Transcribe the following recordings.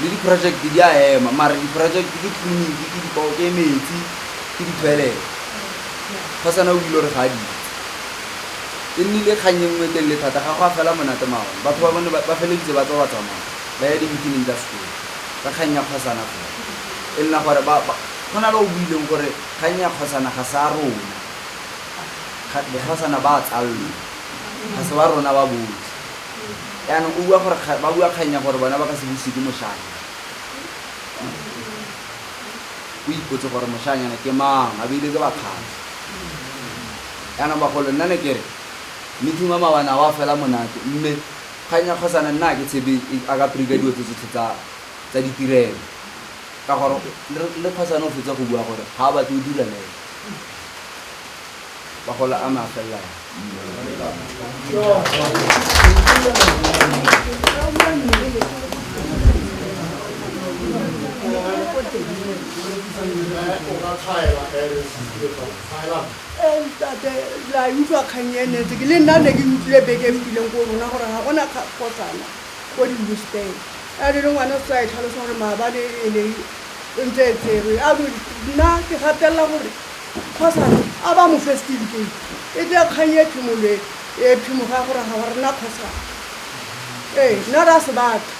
le di-project di a ema mara di-project ke clinic ke dipao ke metsi ke di-toilet fa sana o ile re ga di e nnile kgang e nngwe telele thata ga go a fela monate maone batho ba bone ba feleditse ba tsa ba tsamaya ba ya di-meeting tsa sekolo ka kgang ya kgosana fela e nna gore go na le o buileng gore kgang ya kgosana ga sa rona bokgosana ba tsallo ga se ba rona ba botlhe Jaanong o bua gore kga- ba bua kgang ya gore bona ba ka se buse ke moshanya. O ipotse gore moshanyana ke mang, a beile ke bakgang. Jaanong bagolo nna ne kere meeting wa mawana wa fela monate mme kgang ya kgosana nna a ke tshepe e- a ka preka dilo tse tsotlhe tsa tsa ditirelo ka gore le le kgosana o fetsa go bua gore ga a batle o dira le ene Magola a me a felela ntate la utlwa kgang e netse ke le nna ne ke utlwile beke e fetileng ko rona gore ga gona kgotsana ko dimbusteng a le le ngwana se tsa e tlhalosa gore maabane e ne e ntse e tserwe a nna ke gatelela gore Kgosana, a ba mo fe setifikeiti. E tle kgang e phimolwe e phimoge ya gore ga wa rena kgosana. Ee, nna re a se batla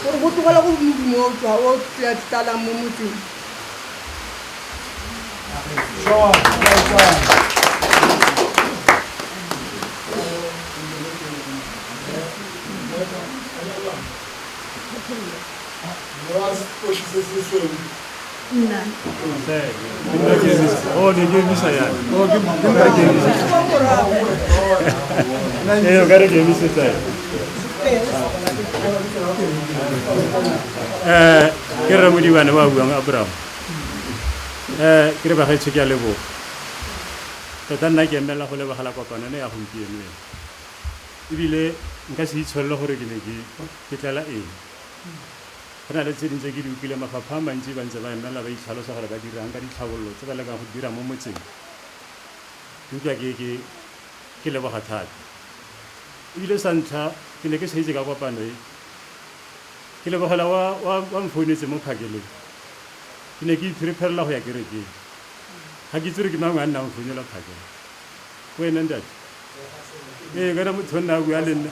gore bo tlogela go modumo o tswa o tlalang mo motseng. Mora sekoshi se sesweu. eh ke re modibane ba buang abraham eh ke re bagaetsho ke a leboga tota nna ke emela go lebagala kopano ne ya gompieno ena ebile nka se itsholele gore ke ne ke tlela eng Go na le tse dingwe tse ke di utlwileng, mafapha a mantsi ba ntse ba emelela ba itlhalosa gore ba dirang ka ditlhabololo tse ba lekang go di dira mo motseng. Ke utlwa ke ke ke leboga thata. Ebile sa ntlha ke ne ke sa itse ka kopano e, ke lebogela wa wa wa mfounetse mo phakeleng. Ke ne ke iphiripherela go ya kerekeng. Ga ke itse gore ke mangwe a nna mo founela phakela. Ke wena ntate? Ee, ke wena motho o nna a bua le nna.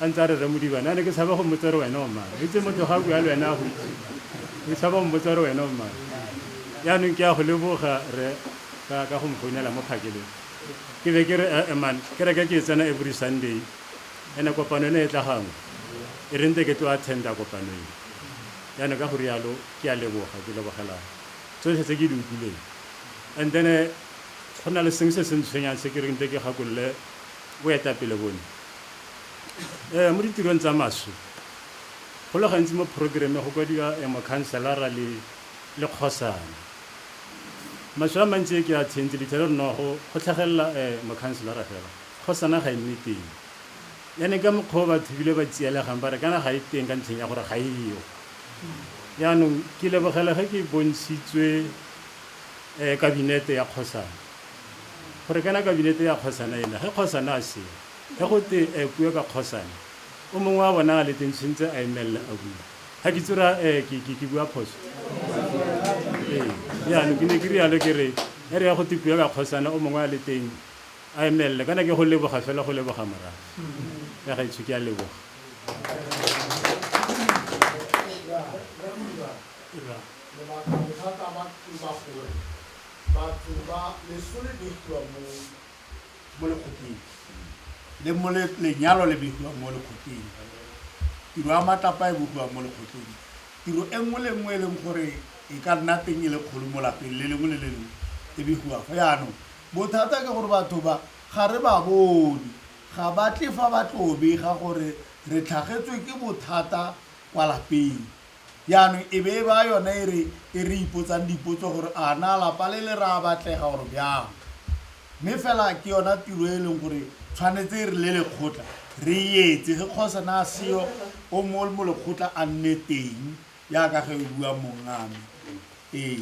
A ntse a re, Rre Modiba, nna ne ke tshaba go mmotsa gore wena o mang. O itse motho ga a bua le wena a go itse. O tshaba go mmotsa gore wena o mang. Jaanong ke a go leboga, Rre, ka, ka go mfounela mo phakelong. Ke be ke re, Eh-eh, man, kereke ke e tsena every Sunday, and-e kopano ena e tla gangwe. E re nte ke tlo attend-a kopano e. Jaanong ka go rialo, ke a leboga, ke lebogela tsotlhe tse ke di utlwileng. And then-e go na le sengwe se se ntshwenyang se ke reng nte ke gakolole boetapele bone. um mo ditirong tsa maswe go le gantsi mo programme go kwadiwa um mokhanselara le le kgosana maswe a mantsi e ke a tshentse lethele re nogo go tlhagelela um eh, mokhanselara fela kgosana ga e nne teng yane ka mokgwa o batho ebile ba tsielegang ba re kana ga e teng ka ntlheng ya gore ga e yo yaanong ke lebogela ge ke bontshitswe um kabinete ya kgosana gore kana kabinete ya kgosana ena ge kgosana a seo Ge go te ee puo ka kgosana, o mongwe wa bona a le teng tshwintse a emelela a bua. Ga ke tsira ee ke, ke, ke bua phoso? Ee, jaanong ke ne ke rialo ke re, e re ya go te puo ka kgosana, o mongwe a le teng a emelele. Kana ke go leboga fela go leboga morago. Ya gaetsho ke a leboga. Lebaka bothata ba tlo ba gore batho ba lesole di tloa mo mo lekgotleng le mo le- lenyalo le begiwa mo lekgotleng tiro ya matlapa e bogiwa mo lekgotleng tiro e nngwe le nngwe e leng gore e ka nna teng e le kgolo mo lapeng le lengwe le le lengwe e begiwa go yaanong bothata ke gore batho ba ga re ba bone ga ba tle fa ba tlo bega gore re tlhagetswe ke bothata kwa lapeng Jaanong e be e ba yone e re e re ipotsang dipotso gore a na lapa le le ra batlega or byang. Mme fela ke yona tiro e leng gore tshwanetse e re le lekgotla re etse ge kgose na a seyo o mo mo lekgotla a nne teng jaaka ge e bua mongame ee.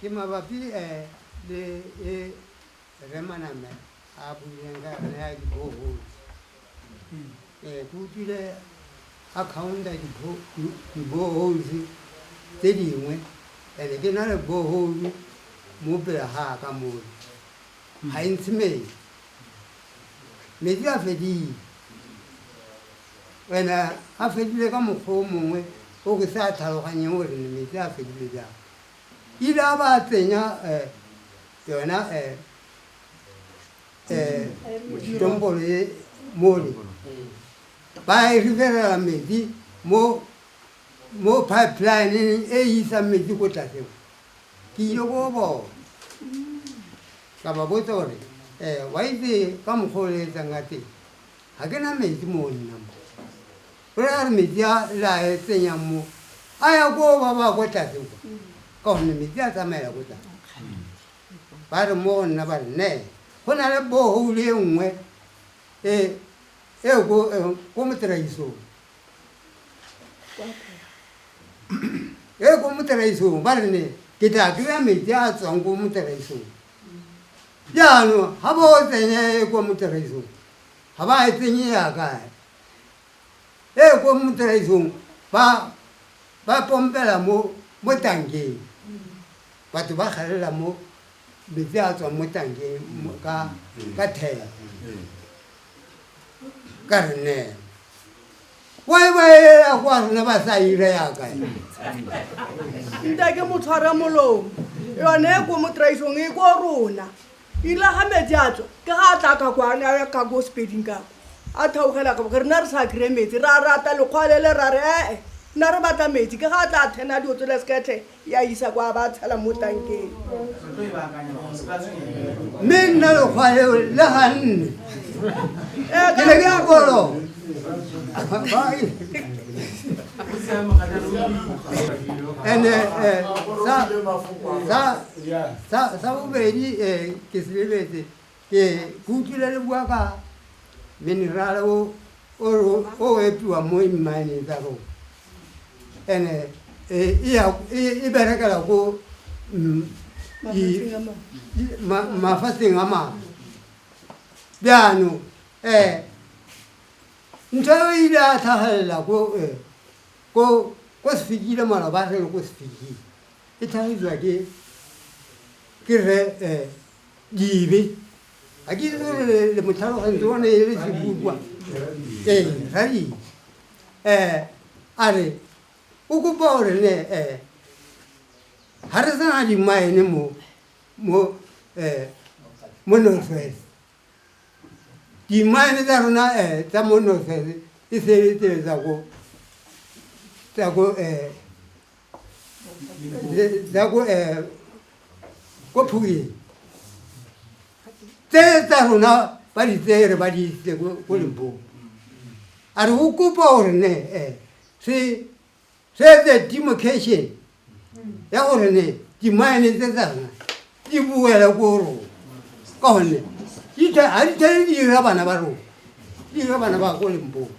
Ke mabapi eh le e Rre Maname a buileng ka yone ya di-borehole. Ee, ke utlwile a counta di-bo- di- di-boreholes tse dingwe and ke na le borehole mo pele ga ka mole ga e ntshe metsi metsi a fedile and a fedile ka mokgwa o mongwe o ke sa tlhaloganyeng gore ne metsi a fedile jang ile a ba tsenya eh, yona eh, eh, tombolo e mone ba e ribelela metsi mo mo pipeline e isang metsi ko tlase ke ile ko bona ka ba botsa gore um wa itse ka mokgwa o le etsang ka teng ga ke na metsi mo nna mo Gore a re metsi a le a e tsenyang mo a ya koo ba ba ko tlase kwa ka gonne metsi a tsamaela ko tlase ba re mo go nna ba re nee go na le bohole e nngwe e e ko e, ko moteraisong e ko moteraisong ba re ne ke tla kry-a metsi a a tswang ko moteraisong jaanong ga ba o tsenye e ko moteraisong ga ba e tsenye yaka e ko motiraisong ba ba pompela mo mo tankeng batho ba galela mo metsi a tswang mo tankeng mo- ka ka thela ka re nela wa e ba elela kwa rona ba sa ira yaka e. nta ke mo tshwara molomo yone e ko motraisong e ko rona ile ga metsi a tswa ke ga a tla ka kwa ne a ya ka ko sepeding ka a theogela ka boke rena re sa kry-e metsi ra rata lekgwalele ra re ee nna re batla metsi ke ga a tla thena dio tsole sekethe ya isa kwa ba tshela mo tankeng mme nna lekgwaleo le ganne ee ke ne ke ya kolo ene eh, sa- sa- Sa sa bobedi eh ke se lebetse ke ke utlwile le bua ka mineral o o ro- o epiwa mo mine tsa rona. And eh e e ya e e berekela ko mm, di- Mafatsheng a mangwe. di- ma- mafatsheng a mangwe. Jaanong eh ntho eo e ile a tlhagelela ko eh ko ko se fikile maloba a re ko se fikile. e tlhagisiwa ke ke re eh dibe a ke re le motlhalogantsi o ne e le sekukwa ee radibe um a re o kopa gore ne um ga re sena dimaene mo mo um mo northwest dimaene tsa rona um tsa mo northwest e sebetsetsa ko tsa ko um la ko eh, ko phuleng tse tsa rona ba di tseye re ba di itse ko lembong a re o kopa gore ne eh, se se etse demarcation ya gore ne dimine tse tsa rona di boele ko rona ka gonne ga di tshele di ira bana ba rona di ira bana ba ko lempong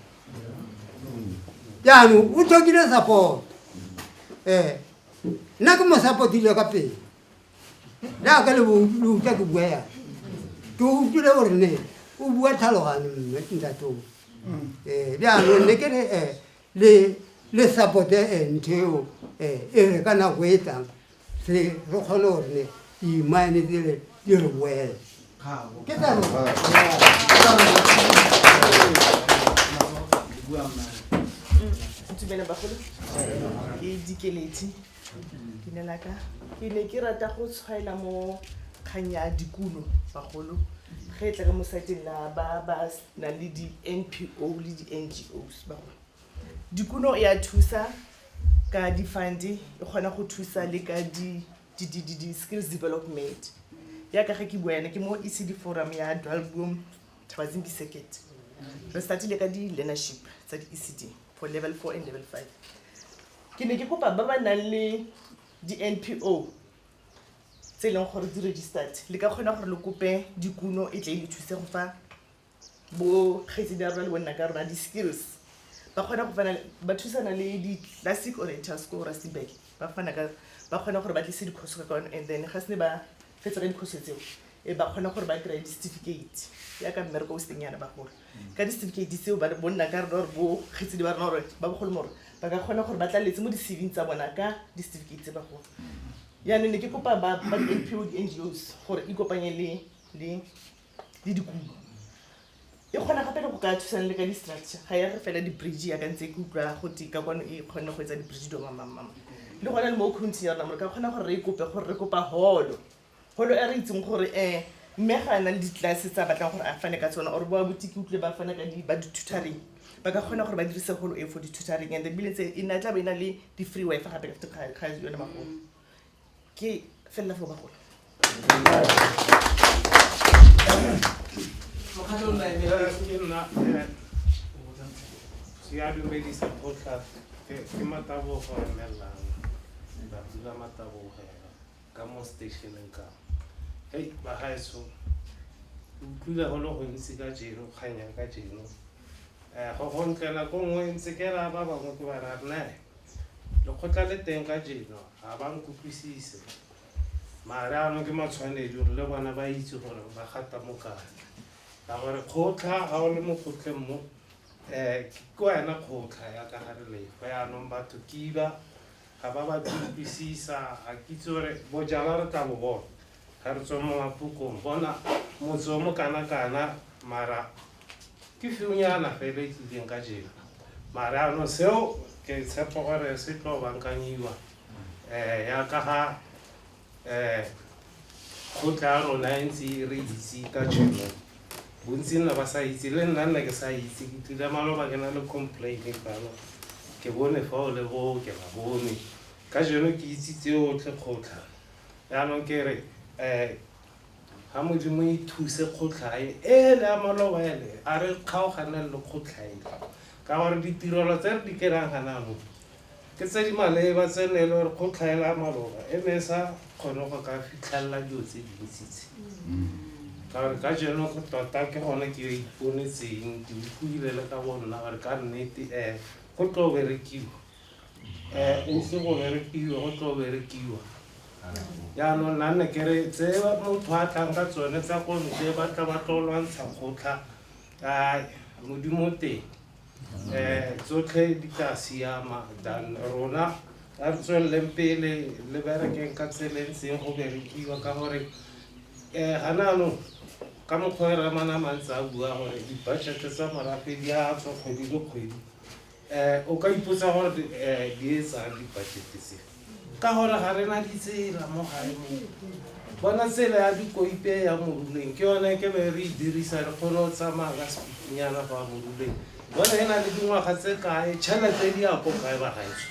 jaanong o tlhokile support um nna ke mo supportile ka pele jaaka le utlwa ke bua yang ke utlwile gore ne o bua tlhalogane mme ntatoo um jaanong ne ke re um le support-e ntho eo e re ka nako e tlang re kgone gore ne di-mine tsele di re boele ke tsa ntumele bagolo ke dikeleti ke ne laka ke ne ke rata go tshwaela mo kgang ya dikuno bagolo ge e tla ka mo sateng la ba ba na le di-npo le di-ngos ba gone dikuno e a thusa ka di-funde e kgona go thusa le ka di-skills development yaka ge ke bua yana ke mo ecd forum ya dwalbom thabatsing ke second re startile ka di-learnership tsa di-ecd for level four and level five ke ne ke kopa ba ba nang le di-npo tse e leng gore di registered le ka kgona gore le kope dikuno e tle e le thuse go fa bo kgaitsedi ya rona le bonna ka rona di-skills ba kgona go fana ba thusana le di-classic oriental school rustenburg ba fana ka ba kgona gore ba tlise dikhoso ka kwano and then ga se ne ba fetsa ka dikhoso tseo e ba kgona gore ba kry-e di-certificate yaka mmereko o seng yana bagolo ka di-certificate tseo ba bonna ka rona gore bo kgaitsedi ba rona gore ba bogolo more ba ka kgona gore ba tlaletse mo di-cving tsa bona ka di-certificate tse bagolo Jaanong ne ke kopa ba ba di-NPO, di-NGOs gore ikopanye le le le dikumo. E kgona gape le go ka thusana le ka di-structure, ga ya re fela di-bridge yaka ntse ke utlwa go twe ka kwano e kgonne go etsa di-bridge dilo mamamama. Le gone le mo county-ing ya rona mo re ka kgona gore re e kope gore re kopa holo. Holo e re itseng gore um mme ga a na le di-class tse a batlang gore a fane ka tsone or bo abuti ke utlwile ba fana ka di ba di-tutoring. ba ka kgona gore ba dirise golo e for di-tutoring and then bile tse e na tla be e na le di-free wifi gape after ga ga yone magolo ke felela fo bagolo Mokgatlho o nna eme. Eh, ke nna eh, ya dumedisa kgotla ke ke matabogo emelang batsi la matabogo ka mo stationeng ka hei bagaetso utlwile go le gontsi ka jeno kgang ya ka jeno um go gontlela ko nngwe ntse ke raya ba bangwe ke ba raya nnae lekgotla le teng ka jeno ga ba nkutlwisise mare ano ke matshwanedi gore le bona ba itse gore ba gata mo kae ka gore kgotlha ga o le mo kgotlheng mo um ke wena kgotlha ya ka ga re lefa yaanong batho kiba ga ba batle go utlwisisa ga kitse gore bojalwa re tla bo bona ga re tswe mo mapukong bona motse o mo kana-kana mara ke fiunyana fela e tlileng ka jena mara ano seo ke tshepo gore se tlo bankanyiwa um ya ka ga um kgotla ya rona e ntse e re itse ka tšhono bontsi nna ba sa itse le nna nna ke sa itse ke tlile maloba ke na le complaine fano ke bone fa o le boo ke ba bone ka jeno ke itse tseotlhe kgotlha jaanong ke re um ga modimo e thuse kgotlhae ele a maloba ele a re kgaoganeng le kgotlhaele ka gore ditirelo tse re di kerang ganano Ke tse di maleba tse ne e le gore go tlhaela maloba e ne e sa kgone go ka fitlhelela dilo tse dintsi tse. Ka gore ka jeno go tota ke gone ke iponetseng ke utlwile le ka bo nna gore ka nnete um go tlo berekiwa. Um ise go berekiwe go tlo berekiwa. Jaanong nna ne ke re tse motho a tlang ka tsone tsa ko ntle ba tla ba tlo lwantsha kgotlha, ae Modimo o teng. Eh, tsotlhe di tla siama than rona a re tsweleleng pele le berekeng ka tseleng seng go berekiwa ka gore um ga naanong ka mokgwa e ramana mantse a bua gore di-budget tsa morafe di a tswa kgwedi le kgwedi um o ka ipotsa gore um di etsang di-budget tse ka gore ga re na ditsela mo gae mo bona tsela ya dikoipe ya moruleng ke yone ke le re e dirisa re kgone go tsamaya ka sepipinyana go ya moruleng bona e na le dingwaga tse kae tšhelete di ya ko kae ba gaetso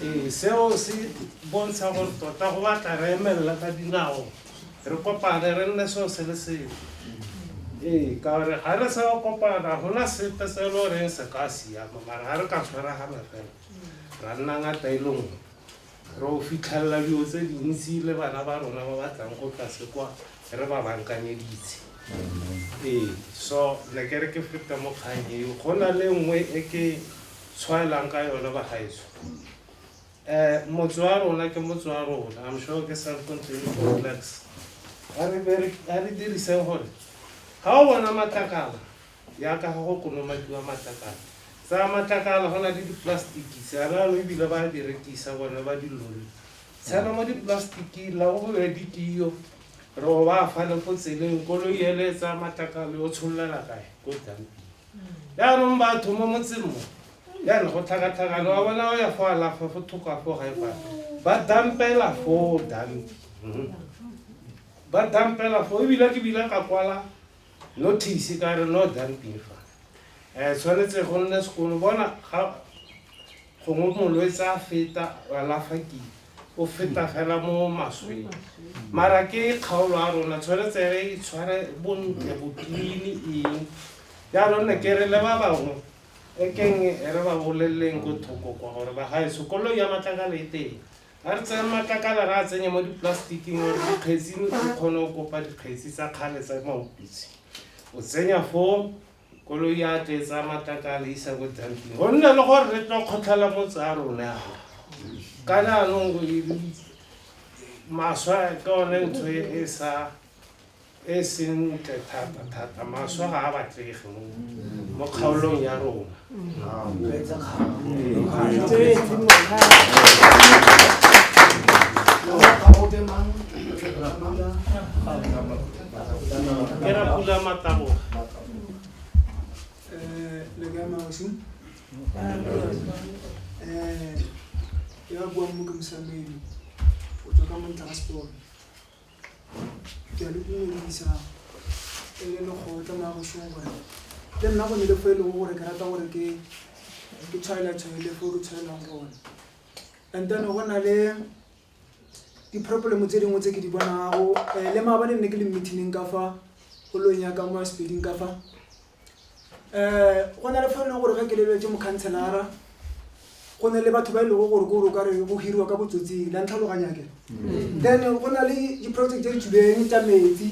ee seo se bontsha gore tota go batla re emelela ka dinao re kopane re nne seo se le seo ee ka gore ga re sa kopana gona sepe se e le goreng se ka siama mara ga re ka tshwaragana fela ra nna ngata e leng re o fitlhelela dilo tse dintsi le bana ba rona ba batlang go tlase kwa re ba bankanyeditse ee so ne ke re ke feta mo kgang eo go na le nngwe e ke tshwaelang ka yone bagaetso um motse wa rona ke motse wa rona i'm sure ke self contained complex a re diriseng gore ga o bona matlakala Yaka ga go konomakiwa matlakala. Tsaya matlakala, go na le dipolasetiki, seanano ebile ba a di rekisa bone ba dilori. Tshela mo dipolasetikeng, la go be ditiyo, re o ba fale fo tseleng, koloi ele e tsaya matlakala yo tshololela kae? Ko dumping. Jaanong batho mo motseng mo, jaana go tlhakatlhakane, wa bona o ya fo alafa fo thoko a fo gae fa, ba dumpela foo dumping. Ba dumpela foo, ebile ke bile ka kwala Notice ka re no dumping fa um tshwanetse go nne sekolo bona ga gongwe molwetse a feta alafa kile o feta fela mo masweng mara ke kgaolo a rona tshwanetse re itshware bontle botlini eng jaanong ne ke re le ba bangwe e keng re ba boleleleng ko thoko kwa gore ba gae sekolong ya matlakala e teng Ga re tseye matlakala re a tsenye mo dipolasetikeng gore dikgetsi o kgone go kopa dikgetsi tsa kgale tsa maopitse o tsenya foo koloi ya tle tsa matlakala isa ko dumping go nne le gore re tlo kgotlhela motse a rona ka jaanong maswa ke one ntho e sa e sentle thata thata maswe ga a batlege mo mo kgaolong ya rona ke ra pula mataboga Eh, le ka maosi eh ke ba buang mo ke mosamedi o tswa ka montla ga seporo ke a le dumedisa e le lekgotla la bošong gore le nna go ne le fo e lego gore ke rata gore ke ke tshwaela tshwaele fo ke tshwaelang gone and then go na le di-problem tse dingwe tse ke di bonago um le maabane nne ke le meetingeng ka fa golong ya ka mo ya sepeding ka fa um go na le fa e leng gore ka keleletse mokhantshelara go ne le batho ba e lego gore kore o kare go hiriwa ka botsotsing la ntlhaloganyake mm. then go na le di-project tse di tshubeng tsa metsi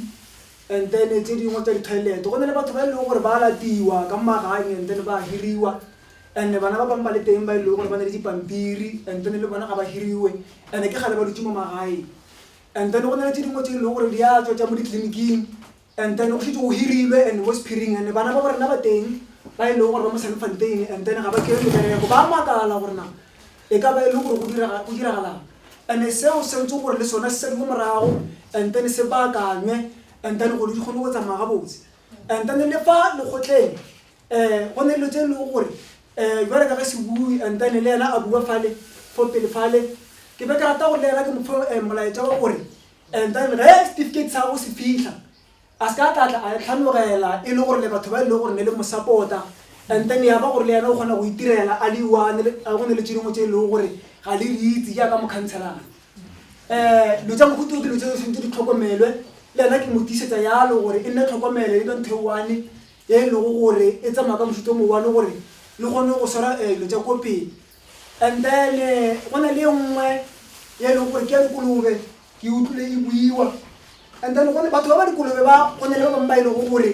and then tse dingwe tsa di-toilet go ne le batho ba e leng gore ba latiwa ka maganye and then ba hiriwa and bana ba bangwe ba le teng ba e leng gore ba ne le dipampiri and then le bona ga ba hiriwe and ke gale ba dutse mo magaeng and then go na le tse dingwe tse e leng gore di a tswa tsa mo ditleliniking and then o shetse o hirilwe and mo sephiring and bana ba borena ba teng ba e leng gore ba mo sanfanteng and then ga ba kere mebereko ba makala gorena e ka ba e leng gore go diragalang and seo se ntse gore le sone se sadi mo morago and then se baakanywe and then gore di kgone go tsamaya ga botse and then le fa lekgotleng um go ne dilo tse e leng gore um jale ka ge se bue and then le ena a bua fale fo pele fale ke be ke rata gore le ena ke mopho eh, molaetsa wa gore and then ge certificate sa go se fitlha a se ka tlatla a tlhanogela e le gore le batho ba e leng gore ne le mosapota and then ya ba gore le yena o kgona go itirela a le one a go ne le tšedimo tse e leng gore ga le di itse jaaka mokhantshelana um lo tsa mogoto ke lo tse sentse di tlhokomelwe le yena ke mo tisetsa yalo gore e nne tlhokomelo e banthe one e e lego gore e tsamaya ka mofuto mo one gore le kgone go swara um lo tsa ko pele and then eh, go na le e nngwe ya e leng gore ke ya dikolobe ke utlwile e buiwa and then gone batho ba ba dikolobe ba go ne le ba bangwe ba e lego gore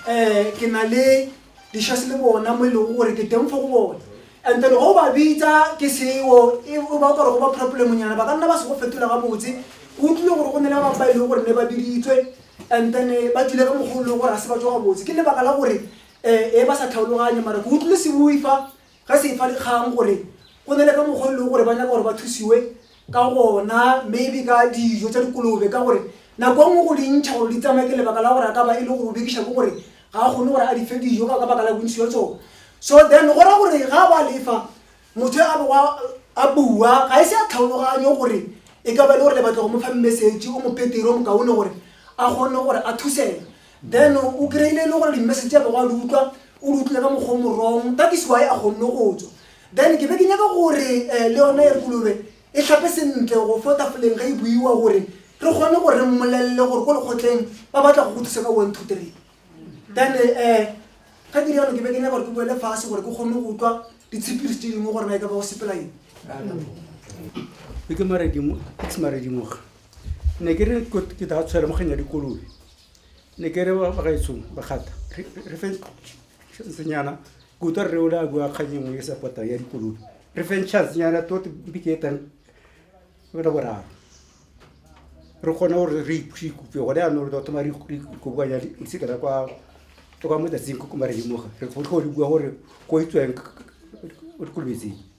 um ke na le dishase le bona mo e lego gore ke teng fo go bone and then go ba bitsa ke seo e o ba o kare go ba problemonyana ba ka nna ba se go fetola ga botse ke utlwile gore go ne le ba bangwe ba e lego gore ne ba biditswe and then eh, ba tswile ka mogolo le gore ga se ba tswa ga botse ke lebaka la gore um e ba sa tlhaologanye mara ke utlwile se bue fa ga se fa dikgang gore go ne le ka mokgwa le gore ba nyaka gore ba thusiwe ka gona maybe ka dijo tsa dikolobe ka gore nako nngwe go dintšha gore di tsamaye ke lebaka la gore a ka ba e le go bekiša ke gore ga a kgone gore a di fe dijo ka baka la bontsi jwa tsone so then go ra gore ga ba lefa motho a boa a bua ga e se a tlhaologanyo gore e ka ba e le gore le batla go mo fa message o mo petero o mo kaone gore a kgone gore a thusega then o kry-ile e le gore di-message ya bego a di utlwa o di utlwile ka mokgwa o morong that is why a kgonne go tswa then ke be ke nyaka gore um le yone e kolobe e tlhape sentle go fo tafoleng ga e buiwa gore re kgone gore re mmolelele gore ko lekgotleng ba batla go go thusa ka one two three then um ga ke riano ke be ke nyaka gore ke boele fase gore ke kgone go utlwa ditshepirisi tse dingwe gore na e ka ba go sepela eng ke maredimoga ne ke re ke da tshwele moganya dikolobe ne ke re bagaetshong bagata re fe chancenyana kuta rre ole a bua kgang engwe e sa potang ya dikoloi re feng chancenyana tote mpike etang bela boraro re kgone gore re ikutlwe gone yanong re thoma re ikobanya letsika la kwa kwa motatsing ko marelimoga re go bua gore go itsweng kolobetseng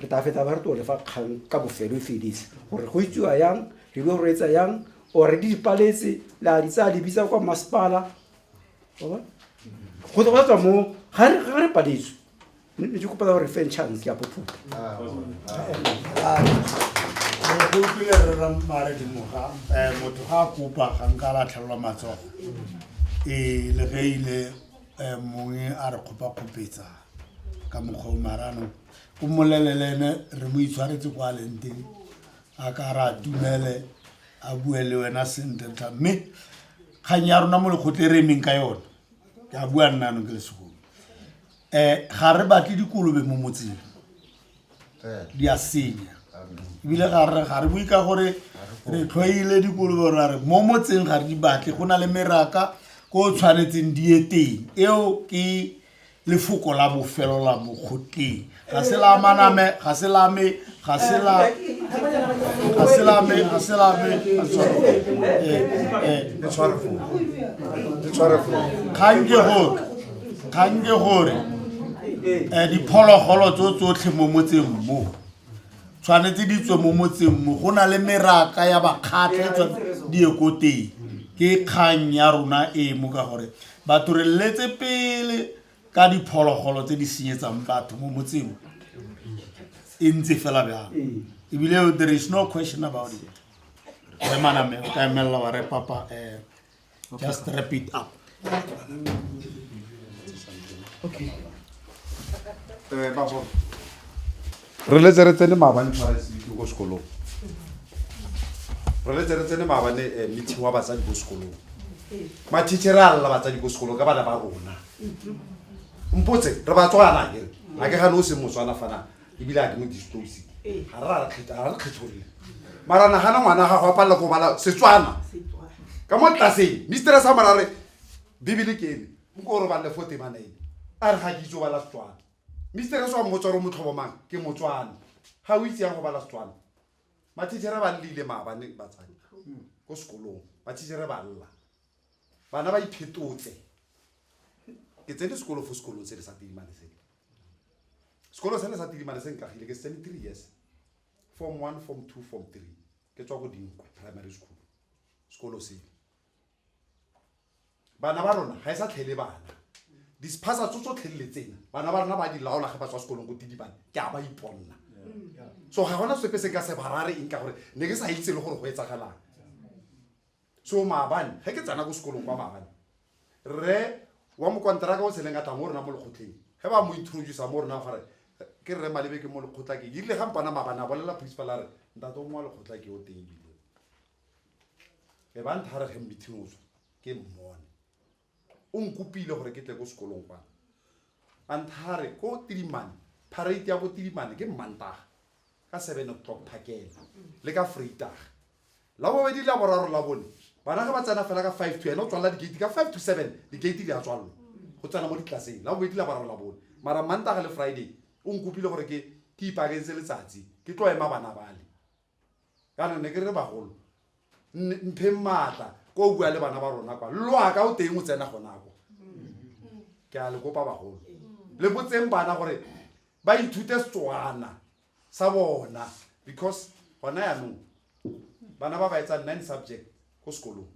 re tla fetsa ba re tole fa kgang ka bofelo e fedise gore go itsiwa yang re dio go reetsa yang ore di dipaletse la di tsaya di bitsa kwa masepala go tswa tswa mo ga re ga re paletswe ne ke kopa gore fe chance ya pophupa go utlwile re ra mare di moga eh motho ga kopa ga nka la tlhalwa matsogo e le ge ile eh mongwe a re kgopa khopetsa ka mokgwa o marano ko mmolelele ene re mo itshwaretse kwa leng teng a ka ra dumele a bue le wena sentle tlha mme kgang ya rona mo lekgotle e re emeng ka yone ke a bua nna anong ke le segolo um ga re batle dikolobe mo motseng di a senya ebile ga re ga re bue ka gore re tlhoile dikolobe gore a re mo motseng ga re di batle go na le meraka ko o tshwanetseng di ye teng eo ke lefoko la bofelo la mo goteng ga se la maname ga se la me ga se la ga se la me ga se la me ga se la me. Eh, eh, le tshware foo le tshware foo kgang ke gore kgang ke gore um diphologolo tso tsotlhe mo motseng mo tshwanetse di tswe mo motseng mo go na le meraka ya bakgatlha e tshwanetse di ye ko teng ke kgang ya rona e mo ka gore Batho re letse pele ka diphologolo tse di senyetsang batho mo motseng e ntse fela bjang ebile there is no question about it re maname o ka emelela wa re papa um just wrap it up okay. Eh, re letse re tsene maabane tshwara seitlo ko sekolong re letse re tsene maabane eh, meeting wa batsadi ko sekolong mathiche re a lela batsadi ko sekolong ka bana ba rona mpotse re batswana kere a ke gane o seng motswana fana ebile a ke mo distosi ga re ra re kgetha- ga re kgetholole mara nagana ngwana gago a palela ko bala setswana ka mo tlaseng mistress a morare bibele ke eme nko o robalele fo temanaene a re ga ke itse o bala setswana mister o tswa mmotsware o motlhobo mang ke motswane ga o itse yang go bala setswana mathitšhere ba lleile maabane batsadi ko sekolong mathitšhere ba lla bana ba iphetotse ke tsene sekolo fo sekolong se le sa tidimane se sekolo se le sa tidimane se nkagile ke setsene three years form one form two form three ke tswa go dinkwe primary school sekolo sele bana ba rona ga e sa tlhele bana disphasa tso tsotlhe le tsena bana ba rona ba di laola ge ba tswa sekolong ko tidibane ke a ba iponela so ga gona sepe se ka se barare eng ka gore ne ke sa itse le gore go etsagalang so maabane ge ke tsena ko sekolong kwa maabane re wa mokonteraka o tsheleng ka tla mo rona mo lekgotleng ge ba mo introducea mo rona gore ke rre malebe ke mo lekgotla ke erile ga mpana maabane a bolela principal a re ntate o mo wa lekgotla ke o teng ebile e ba nthare ge meeting o tswa ke mmone o nkopile gore ke tle ko sekolong kwana a nthare ko tirimane parate ya ko tirimane ke mmantaga ka seven o'clock phakela le ka freitaga la bobedi la boraro la bone bana ga ba tsena fela ka five to ene o tswalela digate ka five to seven digate di a tswalelwa go tsena mo ditlaseng la bobedi la boraro la bone mara mmantaga le friday o nkopile gore ke ke ipakentse letsatsi ke tlo ema bana bale kana ne ke re bagolo mpheng maatla ko o bua le bana ba rona kwa loaka o teng o tsena gonako ke a le kopa bagolo le botseng bana gore ba ithute setswana sa bona because gona yanong bana ba ba etsang nine subject ko sekolong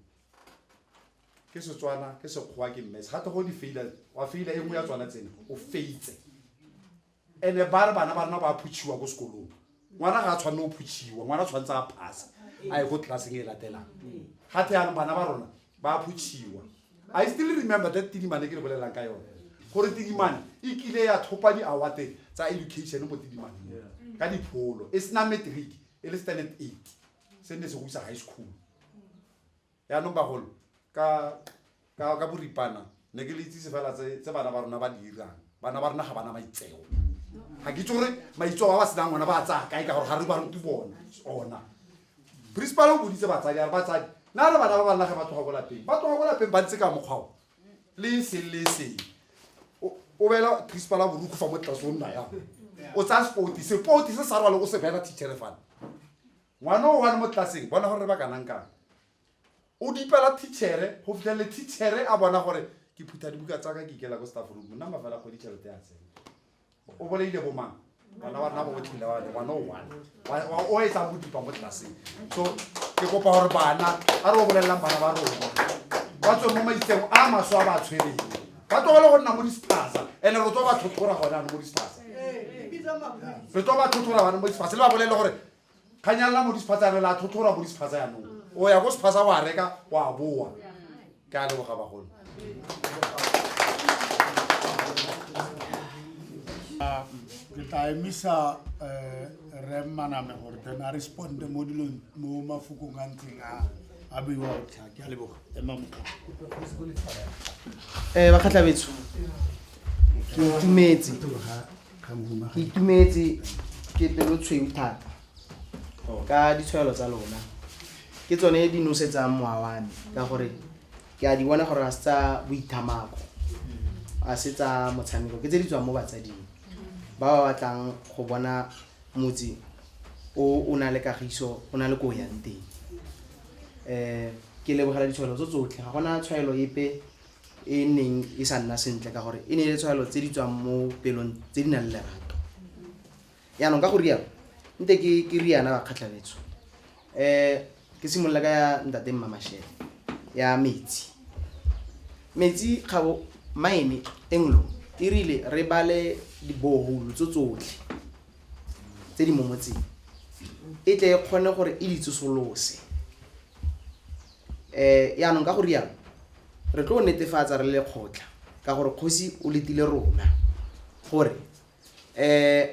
ke setswana ke sekgowa ke mmes gate go di faila wa faila e nngwe ya tswana tsena o feitse ene ba re bana ba rena ba phutšhiwa ko sekolong ngwana ga a tshwanne o phutšhiwa ngwana tshwanetse a phase a ye ko tlelaseng e latelang ga the yanong bana ba rona ba phutšhiwa i still remember that tidimane ke le bolelelang ka yone gore tidimane e kile ya thopa di-awate tsa education mo tidimaneng ka dipholo e sena matric e le standard eight se nne se go isa high school Yaanong bagolo, ka, ka, ka boripana, ne ke le itsise fela tse, tse bana ba rona ba di dirang. Bana ba rona ga ba na maitseo. Ga ke itse gore maitseo a ba senang ona ba a tsaya kae ka gore ga re ba rute bona ona. Principal o boditse batsadi a re batsadi na re bana ba ba nage ba tloga ko lapeng ba tloga ko lapeng ba ntse ka mokgwao le seng le seng o o bela principal a boruku fa mo tlase o nna yang o tsaya sepoti sepoti se sa rwale o se bela teachere fana ngwana o one mo tlelaseng bona gore re ba kanang kang o dipela teachere go fitlhelele teachere a bona gore ke phutha dibuka tsa ka ke ikela ko staff room nna mafela kgwedi tšhelete ya tsene o boleile bomang bana wa rena botlhile wa ngwana o one wa o etsa bodipa mo tlelaseng so ke kopa gore bana a re o bolelelang bana ba rona ba tswe mo maitseng a maswe a ba tshwereng ba tlogele go nna mo dispasa and-e re tlo ba tlhotlhora gone ano mo dispasa re tlo ba tlhotlhora gone mo dispasa le ba bolele gore kganyalela mo disephatsa re la tlhotlhora mo disephatsa yanong o ya ko sephatsa wa reka wa boa ke a leboga bagolo ke tla emisa eh, re maname gore then a responde mo dilong mo mafokong a ntseng a a beiwa botlha ke a leboga ema motlha um bakgatlhabetso ke itumetse Ke itumetse ke pelo tshweu thata ka ditshwaelo tsa lona. Ke tsone di nosetsang mowa wa me ka gore ke a di bona gore ga se tsa boithamako, a se tsa motshameko. Ke tse di tswang mo batsading ba ba batlang go bona motse o o na le kagiso, o na le ko o yang teng. Ke lebogela ditshwaelo tso tsotlhe, ga gona tshwaelo epe. e neng e sa nna sentle ka gore e ne e le tshwaelo tse di tswang mo pelong tse di nang le lerato yaanong ka go rialo nte ke ke riana ba kgatlhabetso um eh, ke simolola ka ya ntate mmamashele ya metsi metsi kgabo maene englo e rile re bale diboholo tso tsotlhe tse di mo motseng e tle e kgone gore e ditsosolose um yaanong ka go rialo re tlo netefatsa re le kgotla ka gore kgosi o letile rona gore um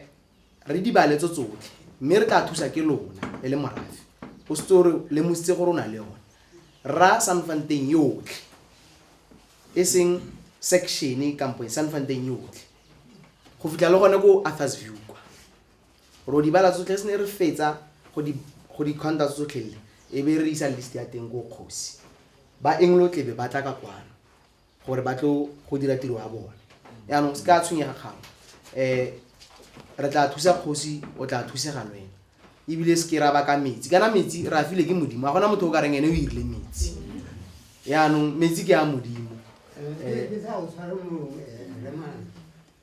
re dibale tso tsotlhe mme re tla thusa ke lona e le morafe o setse re lemositse gore o na le yone ra sanfanteng yotlhe e seng section kampo sanfanteng yotlhe go fitlha le gone ko arthurs view kwa Ro di bala tsotlhe, se ne re fetsa go di go di khonta tsotlhe le e be re isa list ya teng ko kgosi. Ba englo tlebe ba tla ka kwano gore ba tlo go dira tiro ya bone. Yaanong se ka tshwenyega kgang eh re tla thusa kgosi o tla thusega le wena ebile se ke ra baka metsi kana metsi re a file ke modimo a gona motho o ka reng ene o irile metsi yaanong metsi ke a modimo Eh, Ke sa o tshware mo eh, Remane.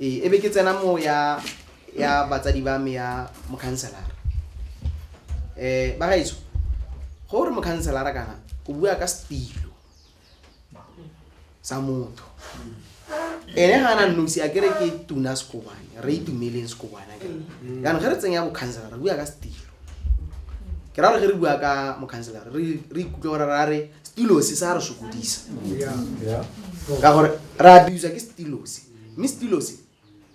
ee ebe ke tsena mo ya ya batsadi ba me ya mokhanselara um ba gaetso go re mokhanselara kana o bua ka setilo sa motho ene ga ana nosi a kere ke tuna sekobane re itumeleng sekobane mm. jaanong ge re tsenya bokhanselara re bua ka setilo ke ra gore ge re bua ka mokhanselara re ikutlwe gore ra re setilosi sa re sokodisa ka gore re abuswa ke setilosi mme setilo se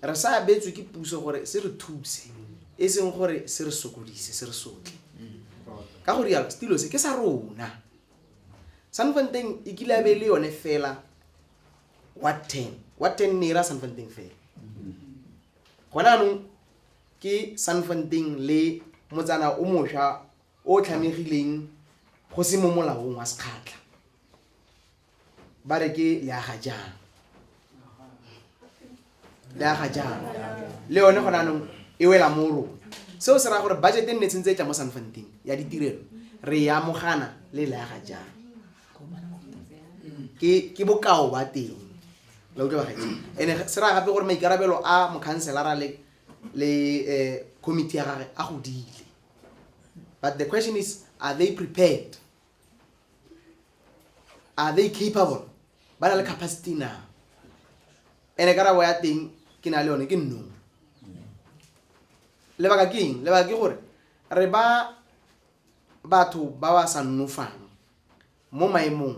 re sa abetswe ke puso gore se re thuse e seng gore se re sokodise se re sotle ka go rialo setilo se ke sa rona sanfanteng e kile a be le yone fela wa ten wa ten ne e ra sanfanteng fela gona anong ke sanfanteng le motsana o mosha o tlhamegileng go se mo molaong wa sekgatlha ba re ke le aga jang le aga jang le yone gone anong e wela mo rona seo se raya gore budget e nne tshentse e tla mo sanfanteng ya ditirelo re ya mogana le le aga jang ke ke bokao ba teng la utlwa ba gaetse ene se raya gape gore maikarabelo a mokhanselara le le eh, committee ya gage a godile but the question is are they prepared are they capable ba na le capacity na ene karabo ya teng ke na le yone ke nnong lebaka ke eng lebaka ke gore re ba batho ba ba sa nnofang mo maemong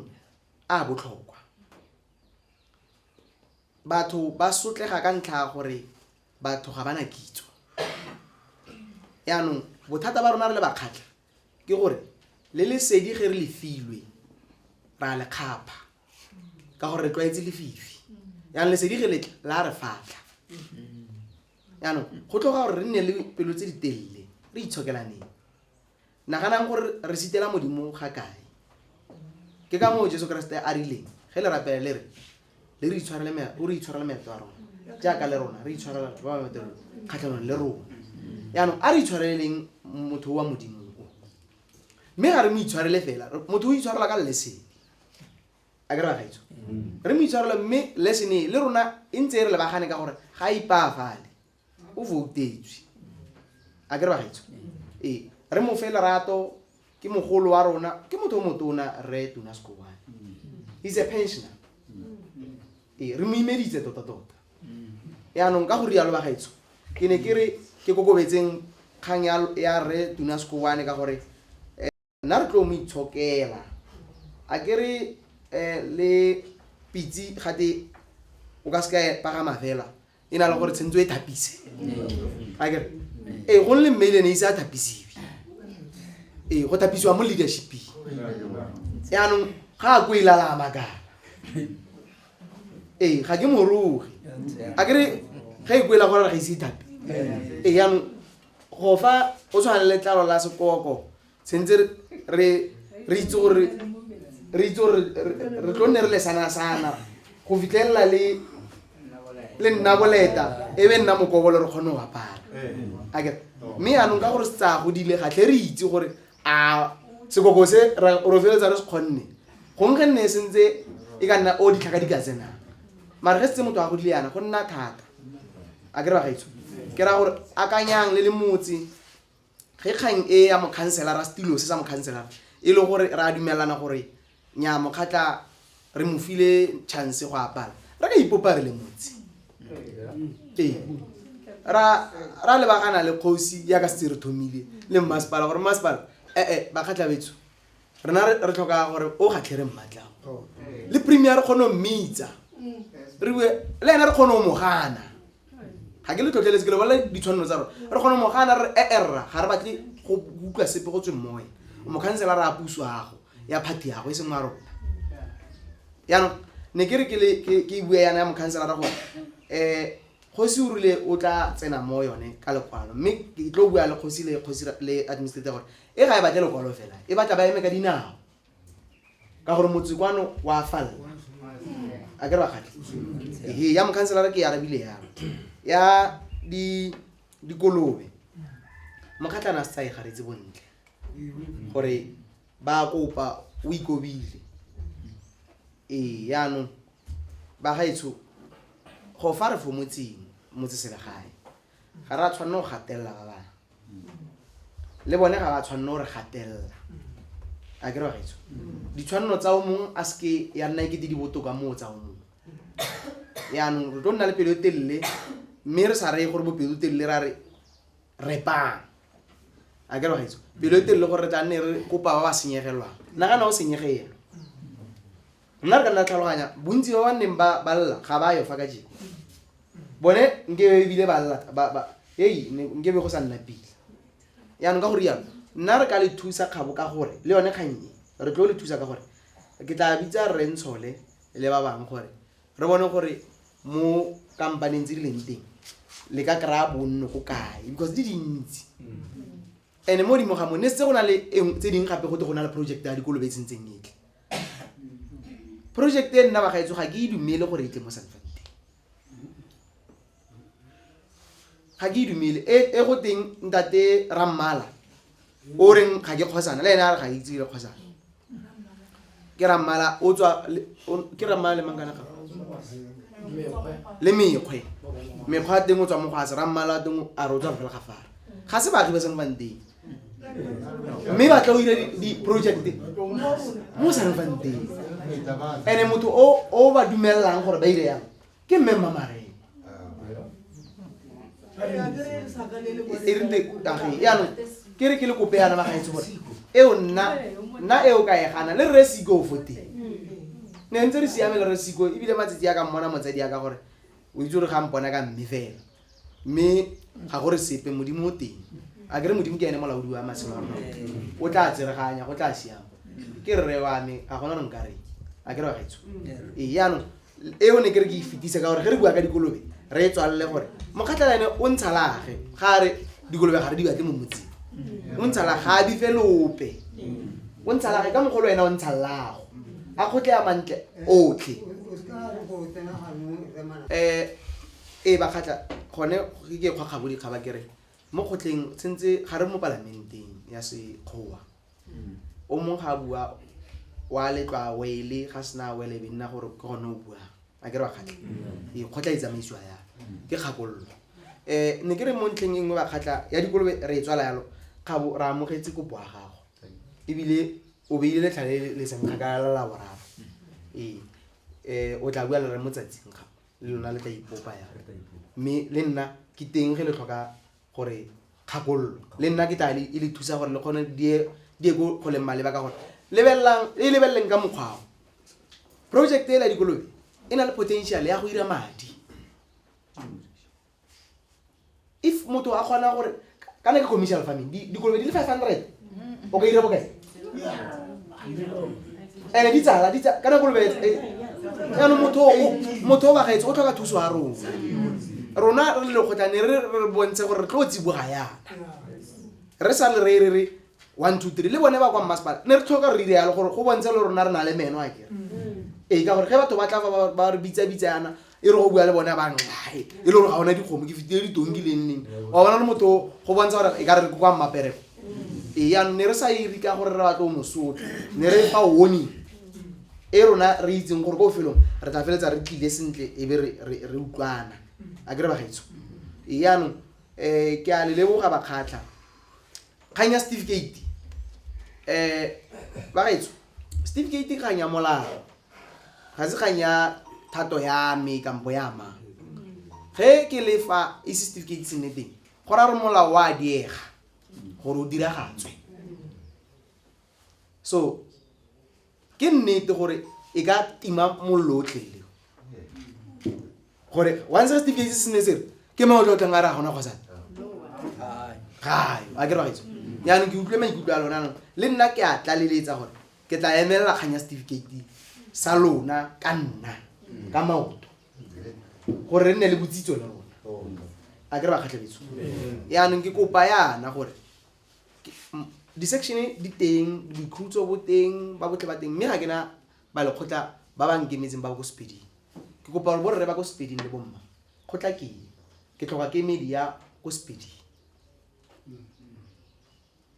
a botlhokwa batho ba sotlega ka ntlha ya gore batho ga ba na kitso yaanong bothata ba rona re le bakgatlha ke gore le lesedi ge re le filwe ra le kgapha ka gore re tlwaetse lefifi yaanong lesedi ge letla la re fatlha yaanong go tlhoga gore re nne le pelo tse di telele re itshokelaneng naganang gore re sitela modimo ga kae ke ka moo jesu keresete a rileng ge le rapele le re le re itshwarele me- o re itshwarele meetlo a rona jaaka le rona re itshwarela batho ba ba metelong kgatlhanong le rona yaanong a re itshwareleleng motho wa modimo o mme ga re mo itshwarele fela re- motho o itshwarela ka lesene a ke re bagaitso re mo itshwarela mme lesene e, le rona e ntse e re lebagane ka gore ga a ipaafale o voutetswe a kere bagaetsho ee re mo fe lerato ke mogolo wa rona ke motho o motona re tuna sekoane he's a pensioner ee re mo imeditse tota tota yaanong ka go rialo bagaetsho ke ne ke re ke kokobetseng kgang ya re tuna sekoane ka gore Nna re tlo mo itshokela. A ke re le pitsi gate o ka seka e pagama fela e na le gore tshwanetse o e thapise. A ke re? Ee, gongwe le mme ele ene ise a thapisiwe. Ee, go thapisiwa mo leadership-ing. Jaanong ga a ko e lalama kana. Ee, ga ke morogi. A ke re ge e ko e la gore ga ise ithape. Ee, jaanong Go fa o tshwana le letlalo la sekoko sentse re re itse gore re itse gore re tlo nne re le sana sana go fitlhelela le le nna boleta e be nna mokobolo re kgone go apara mme yaanong ka gore se tsaya godile ga tle re itse gore a sekoko se ra- ro feletsa re se kgonne gongwe ge nne e sentse e ka nna o ditlhaka di ka tsenang mare ge setse motho a godile yana go nna thata a ke re bagaetsho ke raya gore akanyang le le motse ge kgang e ya mokhanselara setilo se sa mokhanselara e le gore re a dumelana gore Nnyaa, mokgatla re mo file chance go a bala. Re ka ipopa re le motse. Ee. Ra, ra lebagana le kgosi ya ka setse re thomile le mmasepala gore mmasepala ee bakgatla betso rena re, re tlhoka gore o kgatlhe re mmatlago le premier re kgone go mmitsa re bue le ene re kgone go mo gana ga ke le tlhotlheletse ke lebelela ditshwanelo tsa rona re kgona mogana re eerra ga re batle go utlwa sepe go tsweng mo wena mokhansela re a puso yago ya phathi yago e seng wa rona yaanong ne ke re ke le- ke- ke bue yana ya mokhansela ra gore um kgosi o rile o tla tsena mo yone ka lekwalo mme ke tlo bua le kgosi le kgosi ra- le administrator gore e ga e batle lekwalo fela e batla ba eme ka dinao ka gore motse kwano wa falla a ke re bakgati ee ya mokhanselara ke e arabile ya ya dikolobe mokgatlana a se tsaye garetse bontle gore ba kopa o ikobile ee yaanong ba gaetsho go fa re fo motseng motse selegae ga re a tshwanne go gatelela ba bangwe le bone ga ba tshwanne gore gatelela a ke regetso ditshwanelo tsa o mongwe a seke ya nna ekete di botoka moo tsa o mongwe yaanong re tlo nna le pelo e telele mme re sa reye gore bopelo telele ra re repang a ke regetso pelo e telele gore re tla nne re kopa ba ba senyegelwang nagana o senyegelwa nna re ka nna tlhaloganya bontsi ba ba nneng ba ba lla ga ba yo fa ka jeno bone nkebe ebile ba lla ba- ba- ei ne- nkebe go sa nna pila yaanong ka go rialo nna re ka le thusa kgabo ka gore le yone kgang e re tlo le thusa ka gore ke tla bitsa rre ntshole le ba bangwe gore re bone gore mo kampaneng tse di leng teng le ka kry-a bonno go kae because di dintsi and mo godimo ga mo ne setse go na le e nngwe- tse dingwe gape go te go na le project ya dikolobe e tsentseng etle project e nna bagaetso ga ke e dumele gore e tle mo sanfante ga ke e dumele e, e go teng ntate rammala o reng ga ke kgosana le ene a re ga ke itse le kgosana ke rammala o tswa ke rammala le mangkana ga le mekgwe mekgwa a teng o tswa mo go a se rammala a teng a re o tswa fela ga fara ga se baagi ba sanfanteng mme batla o dire di-project mo sa revang teng and-e motho o ba dumelelang gore ba dire yang ke mme mmamareng e rinte kage yaanong ke re ke le kope yana magaetse gore eo nna nna eo ka e gana le rre siko fo teng ne ntse re siame le rre siko ebile matsatsi ya ka mmona motsadi ya ka gore o itse gore ga mpona ka mme fela mme ga gore sepe modimo o teng a kere modimo ke ene molaodi wa matshelo a o tla tsereganya go tla siama ke rre wa me ga gona nong ka re a kere wa gaetsho ee yaanong eo ne ke re ke e fetisa ka gore ge re bua ka dikolobe re e tswalele gore mokgatlhela ene o ntsha lage ga re dikolobe ga re di batle mo motseng o ntsha lage ga a bife lope o ntsha lage ka mogolo ena o ntsha lago a kgotle ya mantle otlhe um Ee, ba kgatlha, gone ke ke kgwa kgabo dikgaba ke re mo kgotleng tshentse ga re mo palamenteng ya sekgowa hmm. o mong ga a bua wa letlwa wele ga sena a wele be nna gore ke gone o buang a ke re wa kgatlha hmm. ee, kgotla e tsamaisiwa ya hmm. ke kgakololo um ne ke re mo ntlheng e nngwe ba kgatlha ya dikolobe re e tswala yalo kgabo re amogetse kopo ya gago ebile o beile letlha le le seng kgakala la boraro ee um o tla bua le re mo tsatsing gago le lona le tla ipopa ya mme le nna ke teng ge le tlhoka gore kgakololo le nna ke tla e le thusa gore le kgone die die ko go leng maleba ka gore lebelelang e lebeleleng ka mokgwao project e la dikolobe e na le potential ya go dira madi if motho a kgona gore kana ke commercial farming dikolobe di le five hundred o ka ira bokae ene di tsala di tsala kana kolobe jaanong motho motho o bagaetse o tlhoka thuso ya rona rona re le kgotlane re re bontshe gore re tlo tsiboga yana re sa le re re re one two three le bone ba kwa mmasepala ne re tlhoka re ire yalo gore go bontshe le rona re na le meno a kere ee ka gore ge batho ba tla ba re bitsabitsa yana e re go bua le bone a ba nxae e le gore ga ona dikgomo ke fitile ditongi le nneng wa bona le motho go bontsha gore e ka re re kwa mmaperego ee yanong ne re sa iri ka gore re batlo mosotho ne re fa warning e rona re itseng gore ko felong re tla feletsa re tlile sentle e be re utlwana a kere bagaitso ee yanong um ke a le leboga bakgatlha kgang ya certificate um bagetso certificate kgang ya molao ga se kgang ya thato ya me kampo ya ma ge ke le fa e se certificate se nne teng go ra re molao wa diega gore o diragatswe so ke nnete gore e ka tima mollo o tlele gore once re setifikeiti se sene sere ke mang o tlo tlang a re a gona kgosane gayo a ke ragaetso yaanong ke utlwe maikutlo a lona nong le nna ke a tlaleletsa gore ke tla emelela kgang ya setifikeiti sa lona ka nna ka maoto gore re nne le botsitso le rona a ke re ba kgatlhebetso yaanong ke kopa yana gore di-section di teng boikhutso bo teng ba botle ba teng mme ga ke na ba lekgotla ba ba nkemetseng ba ko sepeding ke kopa gore borre ba ko sepeding le bomma kgotla keng ke tlhoka ke media ko sepeding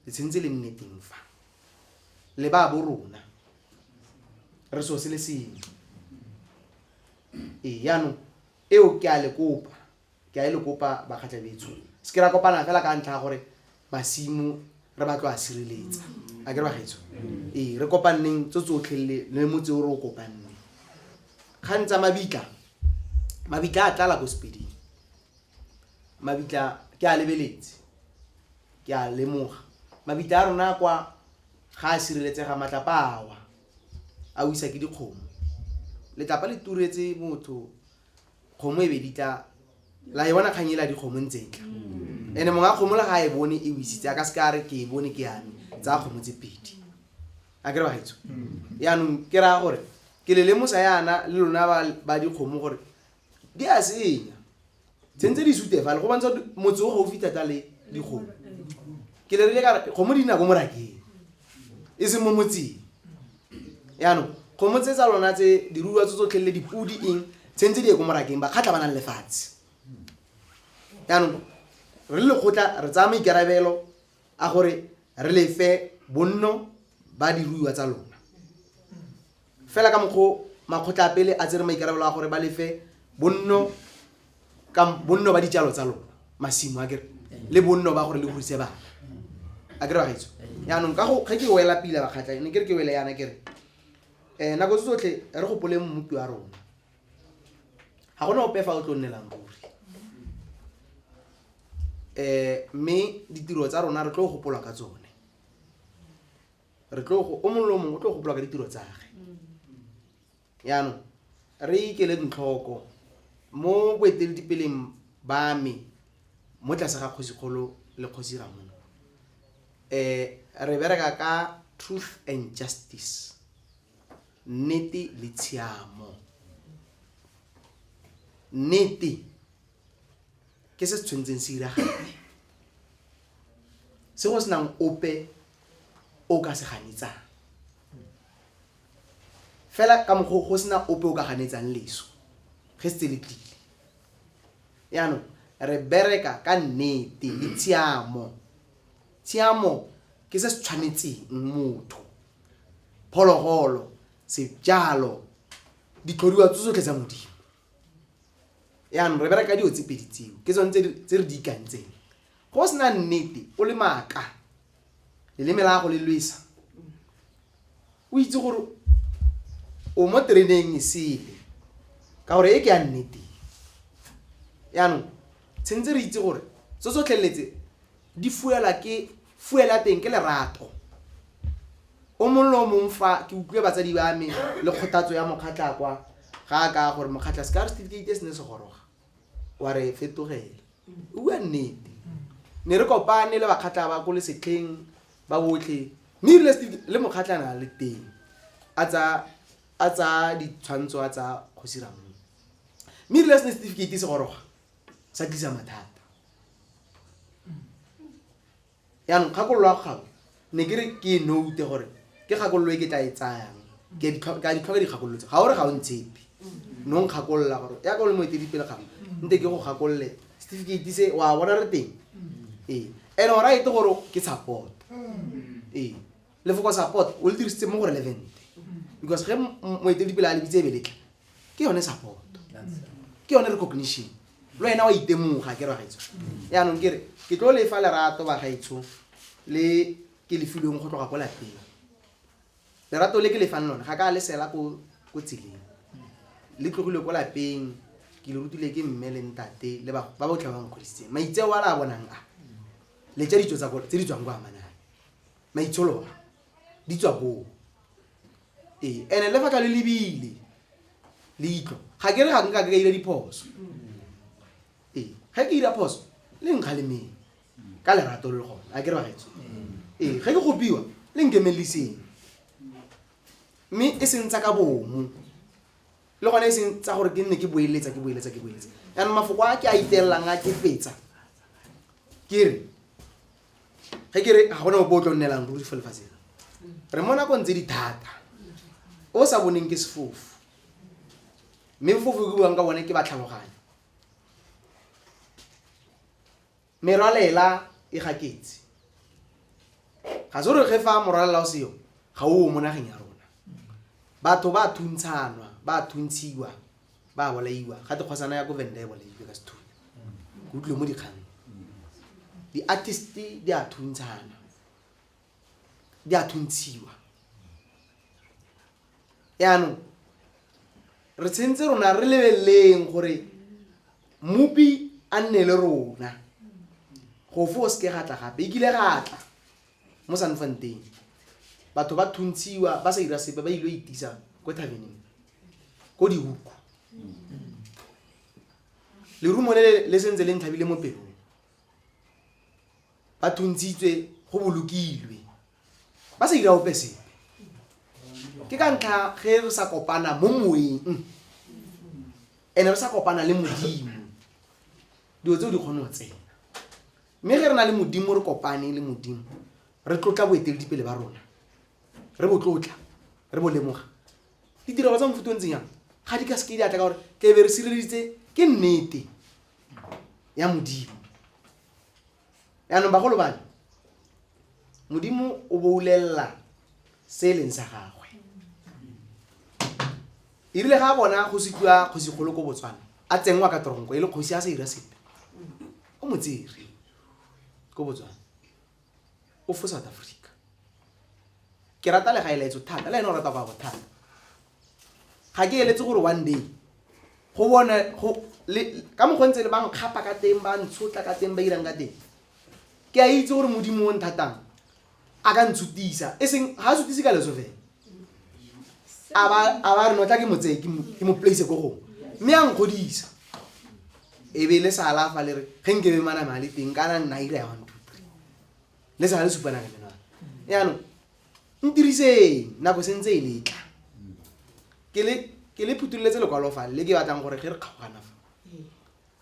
le tshwanetse le nne teng fa le ba bo rona re so se le sengwe ee jaanong eo ke a le kopa ke a e le kopa bakgatlhabetsho se ke ra kopana fela ka ntlha ya gore masimo re batlo a sireletsa a kere bagaetsho ee re kopaneng tso tsotlhe le le motse o re o kopanne kgang tsa mabitla mabitla a tlala ko sepeding mabitla ke a lebeletse ke a lemoga mabitla a rona kwa ga a sireletsega matlapa awa a wisa ke dikgomo letlapa le turetse motho kgomo e be di tla la e bona kgang e la dikgomo ntse e tla mm. ene mongwe a kgomo le ga e bone e wisitse a ka se ka re ke e bone ke yame tsa kgomo tse pedi a kere bagaetso mm. yaanong ke raya gore ke le lemosa yana le lona ba dikgomo gore di a senya tsentse di sute fale go bontsha motse o gaufi thata le dikgomo ke le rile kare kgomo di nako morakeng e seng mo motseng yaanong kgomo tse tsa lona tse diruiwa tse tsotlhelele dipodi eng tse ntse di ye ko morakeng bakgatlha ba nang lefatshe yaanong re le lekgotla re tsaya maikarabelo a gore re lefe bonno ba diruiwa tsa lona fela ka mokgwa makgotla a pele a tsere maikarabelo a gore ba lefe bonno ka bonno ba dijalo tsa lona masimo a kere le bonno ba gore le godise bana a kere bagaetso yaanong ka go ge ke wela pila bakgatlha ne kere ke wele yana kere um nako tse tsotlhe re gopoleng mmupi wa rona ga gona ope fa o tlo nnelang ruri um mme ditiro tsa rona re tlo gopolwa ka tsone re tlo o mongwe le o mongwe o tlo gopolwa ka ditiro tsage Jaanong, re ikeleng tlhoko, mo boeteledipeleng ba me mo tlase ga Kgosikgolo le Kgosi Ramona, um re bereka ka truth and justice, nnete le tshiamo. Nnete ke se se tshwanetseng se iragale, se go senang ope o ka se ganetsang. fela ka mokgwa go sena ope o ka ganetsang leso ge se tse le tlile yaanong re bereka ka nnete le tshiamo tshiamo ke se se tshwanetseng motho phologolo sejalo ditlhodiwa tse tsotlhe tsa modimo yaanong re bereka dilo tse pedi tseo ke tsone tse re di ikantseng go sena nnete o le maaka leleme la go le lwesa o itse gore o mo tereneng e sele ka gore e ke ya nnete yaanong tshwanetse re itse gore tso tsotlheletse di fuela ke Fuel ya teng ke lerato. O mong le o mong fa, ke utlwile batsadi ba me le kgothatso ya Mokgatlha kwa, ga a ka a gore, Mokgatlha, se ka re setifikeite se ne se goroga, wa re fetogela. O bua nnete. Ne re kopane le Bakgatlha ba ko lesetlheng ba botlhe, mme erile setifikeite, le Mokgatlha ne a le teng, a tsaya, a tsaya ditshwantsho a tsaya Kgosi Ramong. Mme erile se ne setifikeite se goroga, sa tlisa mathata yaanong kgakololo ya kgabo ne ke re ke e note gore ke kgakololo e ke tla e tsayang ke a ditlhoka dikgakololo tse ga o re ga o ntshepe no nkgakolola gore ya ka o le moetelipele ga nte ke go gakolole setifikeiti se wa bona re teng ee and o right gore ke support ee lefoko support o le dirisitse mo go relevant because ge moeteledipele a lebitse ebe letla ke yone support ke yone recognition le wena wa itemoga ke ragaetsho yaanong kere ke tlo lefa lerato bagaetsho le ke lefilweng go tloga ko lapeng lerato le ke lefang lone ga ka le sela ko tseleng le tlogile ko lapeng ke le rutile ke mme le ntate le ba botlhe ba nkgodisitseng maitseo a le a bonang a le tsa ditso tse di tswang ko amanang maitsholo di tswa koo ee and-e le fa ka le lebile leitlho ga ke re ga nka ke ka ira diphoso ee ga ke ira phoso le nkga le meng ka lerato le le gone a ke re bagetso ee ga ke gopiwa le nkemelliseng mme e seng tsa ka bomo le gone e seng tsa gore ke nne ke boeletsa ke boeletsa ke boeletsa yanong mafoko a ke a itelelang a ke fetsa ke re ge ke re ga gona opo o tlo nnelang ruri fo lefatsheng re mo nakong tse di thata o sa boneng ke sefofu mme fofu ke buang ka bone ke batlhaloganyo merwalela e gaketse ga se gore ge fa morwalela o seyo ga o mo nageng ya rona batho ba thuntshanwa ba thuntshiwa ba bolaiwa ga dikgosana ya ko venda e bolailwe ka sethunya ke utlwe mo dikgang di-artist di a thuntshana di a thuntshiwa yaanong re tshwanetse rona re lebeleleng gore mopi a nne le rona go fo o seke gatla gape e kile gatla mo sanfanteng batho ba thuntshiwa ba sa ira sepe ba ile itisa ko thabeneng ko dihuku lerumo le le sentse le ntlhabile mo pelong ba thuntshitswe go bolokilwe ba sa ira ope sepe ke ka ntlha ge re sa kopana mo moeng ene re sa kopana le modimo dilo tseo di kgone go tsena mme ge re na le modimo re kopane le modimo re tlotla boeteledipele ba rona re bo tlotla re bo lemoga ditirelo tsa mofuta o ntseng yang ga di ka seke di atla ka gore tle be re sireleditse ke nnete ya modimo yaanong bagolo bane modimo o boulelela se e leng sa gagwe e rile ga a bona kgosi tlwa kgosikgolo ko botswana a tsenngwa ka toronko e le kgosi a sa ira sepe o motsere ko botswana o fo south africa ke rata le ga e laetso thata le ene o rata go ya go thata ga ke eletse gore one day go bone ka mokgwa ntse le ba nkgapa ka teng ba ntshotla ka teng ba irang ka teng ke a itse gore modimo o nthatang a ka ntsutisa e seng ga a sutise ka leso fela a ba a ba re no tla ke mo tseye ke mo- ke mo place ko gongwe mme a nkgodisa e be le sa alafa le re ge nke be maname a le teng kana nna ira ya one two three le sa le supana le menwana yaanong ntiriseng nako sentse e letla ke le ke le phutululetse lekwalo fa le ke batlang gore ge re kgaogana fa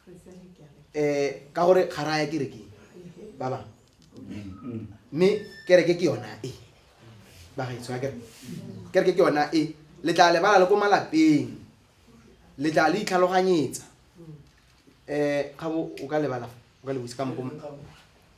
um ka gore ga raya kerekeng ba bang mme kereke ke yona e bagaetso ya kereke kereke ke yona e le tla lebala le ko malapeng le tla le itlhaloganyetsa um ga bo o ka lebala o ka lebose ka mokoma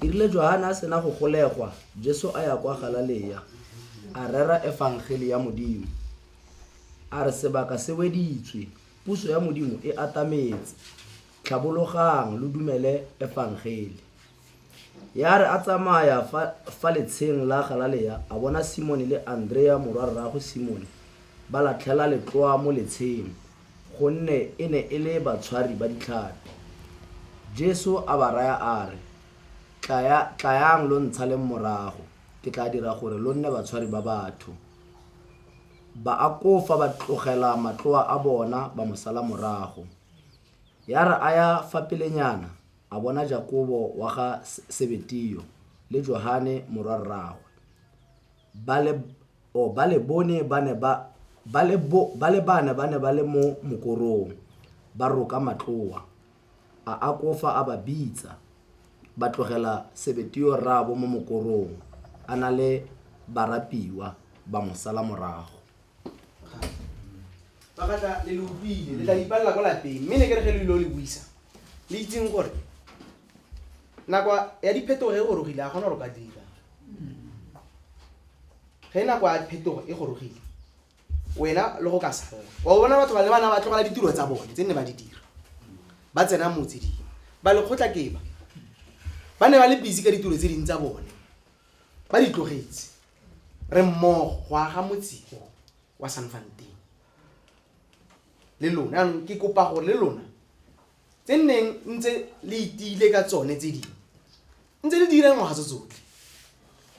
E rile Johane a sena go golegwa, Jesu a ya kwa Galalea, a rera efangele ya Modimo. A re sebaka se weditswe, puso ya Modimo e atametse. Tlhabologang lo dumele efangele. Ya re a tsamaya fa, fa letsheng la Galalea, a bona Simone le Andrea morwa rraagwe Simone ba latlhela letloa mo letsheng. Gonne e ne e le batshwari ba ditlhapi. Jesu a ba raya a re, Tlaya, tlayang lo ntshaleng morago, ke tla dira gore lo nne batshwari ba batho. Baakofa ba tlogela matloa a bona ba mo sala morago. Ya re a ya fa pelenyana, a bona Jakobo wa ga Sebetio le Johane morwa rraagwe. ba le oh, ba le bone ba ne ba ba le bo ba le bana ba ne ba le mo mokorong ba roka matloa a a kofa a ba bitsa ba tlogela sebetio rraabo mo mokorong a na le barapiwa ba mo sala morago ba ka tla le le utlwile le tla ipalela kwa lapeng mme ne ke re ge lo ile o le buisa le itseng gore Nako ya diphetogo e gorogile, a gona gore ka dira. Ge nako ya phetogo e gorogile, wena le go ka sala. Wa bona batho ba le bana ba tlogela ditiro tsa bone tse nne ba di dira. Ba tsena motse di. Ba lekgotla ke ba. Ba ne ba le busy ka ditiro tse ding tsa bone. Ba di tlogetse. Re mmogo go aga motse o wa Sanfanteng. Le lona, ke kopa gore le lona tse nneng ntse le itiile ka tsone tse dingwe ntse le dira ngwaga tse tsotlhe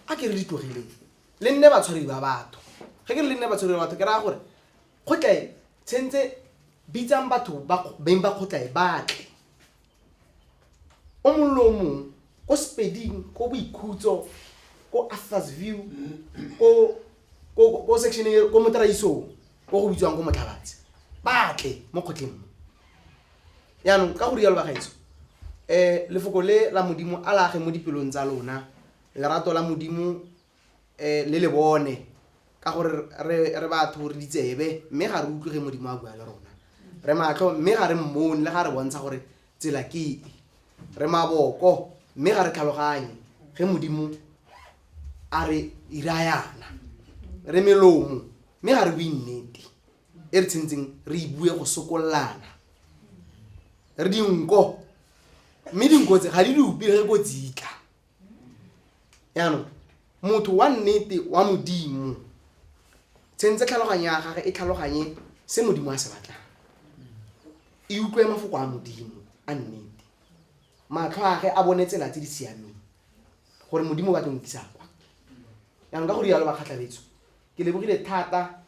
a ke re di tlogileng le nne batshwari ba batho ge ke re le nne batshwari ba batho ke raya gore kgotlae tshentse bitsang batho beng ba kgotlae batle o mollo o mongwe ko sepeding ko boikhutso ko arthurs view ko section ko motraisong ko go bitswang ko motlhabatse batle mo kgotleng mo yaanong ka go rialo bagaetso um lefoko le la modimo a lage mo dipelong tsa lona lerato la modimo um le le bone ka gore re re batho re ditsebe mme ga re utlwe ge modimo a bua le rona re matlho mme ga re mmone le ga re bontsha gore tsela ke e re maboko mme ga re tlhaloganye ge modimo a re irayana re melomo mme ga re bue nnete e re tshwanetseng re e bue go sokololana re dinko mme dinko tse ga di lope re ko tsitla jaanong motho wa nnete wa modimo tshwanetse tlhaloganyo ya gage e tlhaloganye se modimo a se batlang e utlwe mafoko a modimo a nnete matlho age a bone tsela tse di siameng gore modimo o batla nkisa kwa jaanong ka go rialo ba kgatlhabetso ke lebogile thata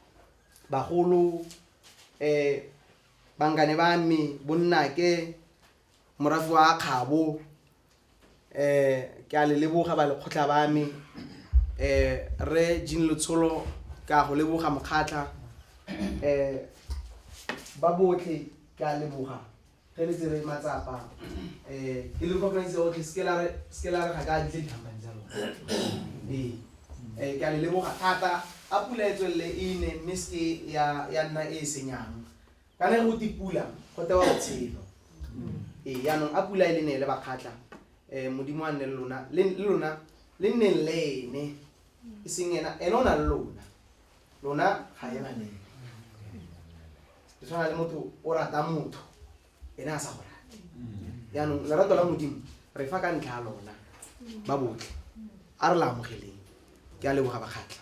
Bagolo, bangane ba me, bonnake, morafe wa kgabo, ke a le leboga ba lekgotlha ba me, Rre Jean Letsholo ke a go leboga mokgatlha, ba botlhe ke a leboga. Ge le tsere matsapa, um ke le kopanise otlhe, seke la re, seke la re ga ke a ditle ditlhampane tsa lona. Ee, um ke a le leboga thata. A pula e tswelele e ne, mme seke ya, ya nna e e senyang. Kana ge go te pula, go tewa botshelo. Ee, yanong a pula e le neele bakgatla. Um Modimo a nne le lona, le, le lona le nneng le ene, e seng ena, ene o na le lona. lona ga e baneng e tshwana le motho o rata motho ene a sa go rate jaanong lerato la modimo re fa ka ntlha ya lona ba botlhe a re la amogeleng ke a leboga bakgatlha